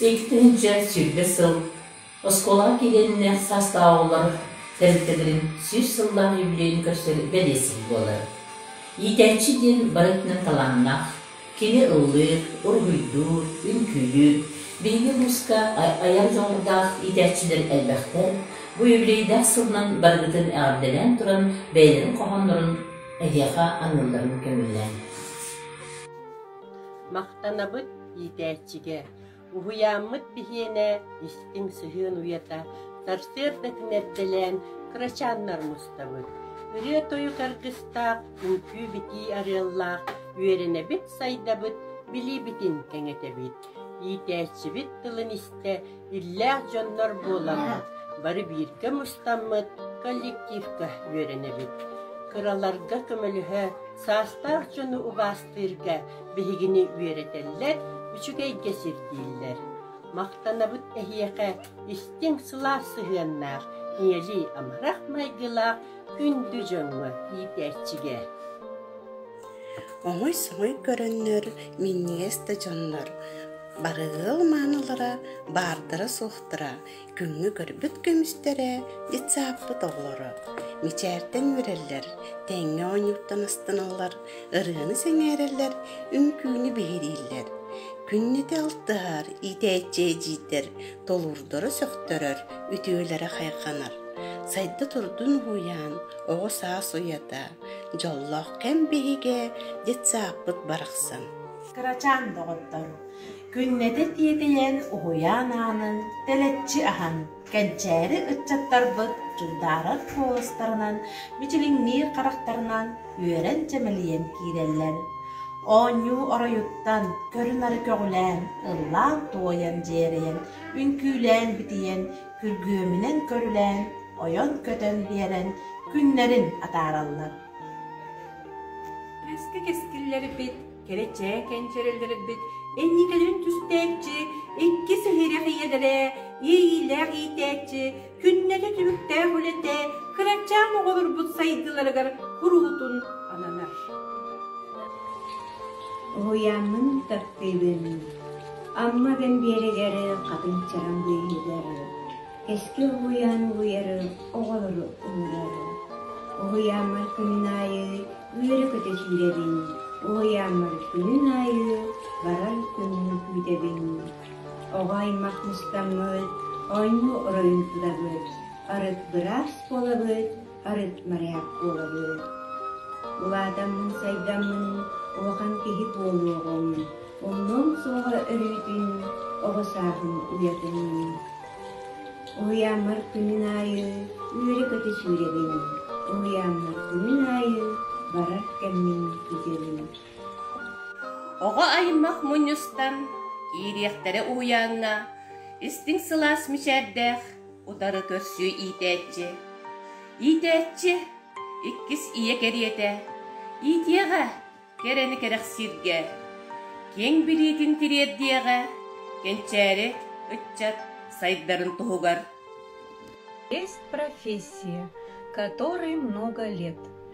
Иккитин дьэ сүүрбэ сыл оскуолаҕа киириэннэ саастааҕылар тэрилтэлэрин сүүс сыллаах юбилейын көрсөр бэлиэтиһик буолар. Иитээччи диэн барытынан талааннаах, кини ыллыыр, уруһуйдуур, үҥкүүлүүр. Биһиги улууска айар дьоҕурдаах иитээччилэр элбэхтэр. Бу юбилейдаах сылынан барыгытын эҕэрдэлээн туран, бэйэлэрин хоһооннорун эһиэхэ аныылларын көҥүллээн. Махтанабыт иитээччигэ, уһуйааммыт биһиэнэ истиҥ сыһыан уйата сарсыардатын эрдэлээн кырачааннар мустабыт, ырыа-тойук аргыстаах, үҥкүү-битии арыаллаах үөрэнэбит-сайдабыт, билиибитин кэҥэтэбит, иитээччибит тылын истэ иллээх дьоннор буоламмыт, бары бииргэ мустаммыт коллективка үөрэнэбит. Кыраларга көмөлөһө, саастаах дьону убаастыырга биһигини үөрэтэллэр, үчүгэйгэ сирдииллэр. Махтанабыт эһиэхэ истиҥ сылаас сыһыаннаах, ийэлии амарах майгылаах күндү дьоҥҥо иитээччигэ. Омуй-сомуй көрөннөр, минньигэс да дьоннор Барыгыл маанылара, баардара-суохтара, күҥҥэ көрбүт көмүстэрэ, детсааппыт оҕолоро. Мичээртэн үөрэллэр, тэҥҥэ оонньууттанастаналлар, ырыаны сэҥээрэллэр, үҥкүүнү биһирииллэр. Күннэтэ алтыһар, иитээччи эдьиийдэр толуурдара сөхтөрөр, үтүөлэрэ хайҕанар. Сайда турдун уһуйаан, оҕо саас уйата, дьоллоох кэм биһигэ, детсааппыт барахсан. Кырачаан доҕоттор, күннэтэ тиэтэйэн, уһуйаан аанын тэлэччи аһан, кэнчээри ыччаттарбыт дьулдаарар куоластарынан, мичилиҥниир харахтарынан үөрэн чэмэлийэн киирэллэр. Оонньуу оройуттан көрүнары көҕүлээн, ыллаан туойан дьиэрэйэн, үҥкүүлээн битийэн, күргүөмүнэн көрүлээн, ойон-көтөн биэрэн күннэрин атаараллар. Кэски кэскиллэрбит Кэрэ чээкээн чэрэллэрбит энньикэлэрин түстээччи, иккис өһүрэх ийэлэрэ, иэйиилээх иитээччи, күннэтэ түбүктээх үлэтэ кырачаан оҕолорбут сайдыыларыгар куруутун ананар. Уһуйаанның тартыыбын Амма Бэмбиэригэр Хатыҥчараҥ быыһыгар Эски уһуйаан уһуйары оҕолору уһуйарым. Уһуйааммар күнүн аайы үөрэ-көтө сүүрэбин. Уһуйааммар күнүн аайы барар күҥҥэ күүтэбин. Оҕо аймах мустаммыт, оонньуу оройун тутабыт, арыт быраас буолабыт, арыт моряк буолабын. Улаатаммын сайдаммын улахан киһи буолуоҕум. Умнуом суоҕа өрүүтүн оҕо сааһым уйатын. Уһуйааммар күнүн аайы үөрэ-көтө сүүрэбин. Уһуйааммар күнүн аайы барар кэммин күтүөбүн. Оҕо аймах мунньустан киириэхтэрэ уһуйааҥҥа истиҥ сылаас мичээрдээх утары көрсүө иитээччи иитээччи иккис ийэ кэриэтэ иитиэҕэ кэрэни кэрэхсииргэ киэҥ билиитин тириэрдиэҕэ кэнчээри ыччат сайдарын туһугар есть профессия которой много лет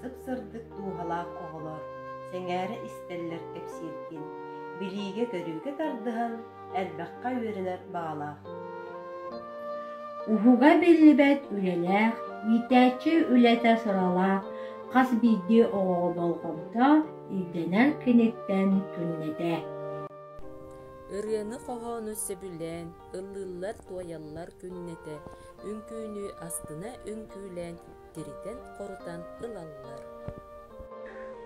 сып-сырдык дууһалаах оҕолор сэҥээрэ истэллэр кэпсииргин, билиигэ-көрүүгэ тардыһан элбэххэ үөрэнэр баҕалаах. Уһуга биллибэт үлэлээх, иитээччи үлэтэ сыралаах хас биирдии оҕоҕо болҕомто ирдэнэр киниттэн түҥнэтэ. Ырыаны хоһоону сөбүлээн, ыллыыллар-туойаллар күннэтэ, үҥкүүнү астына үҥкүүлээн тиритэн-хорутан ылаллар.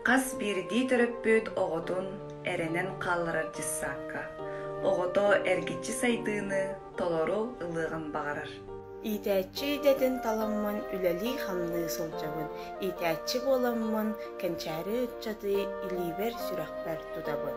Хас биирдии төрөппүт оҕотун эрэнэн хаалларар дьыссаакка оҕото эргиччи сайдыыны толору ылыаҕын баҕарар. Иитээччи идэтин таламмын үлэлии-хамныы сылдьабын. Иитээччи буоламмын, кэнчээри ыччаты илиибэр-сүрэхпэр тутабын.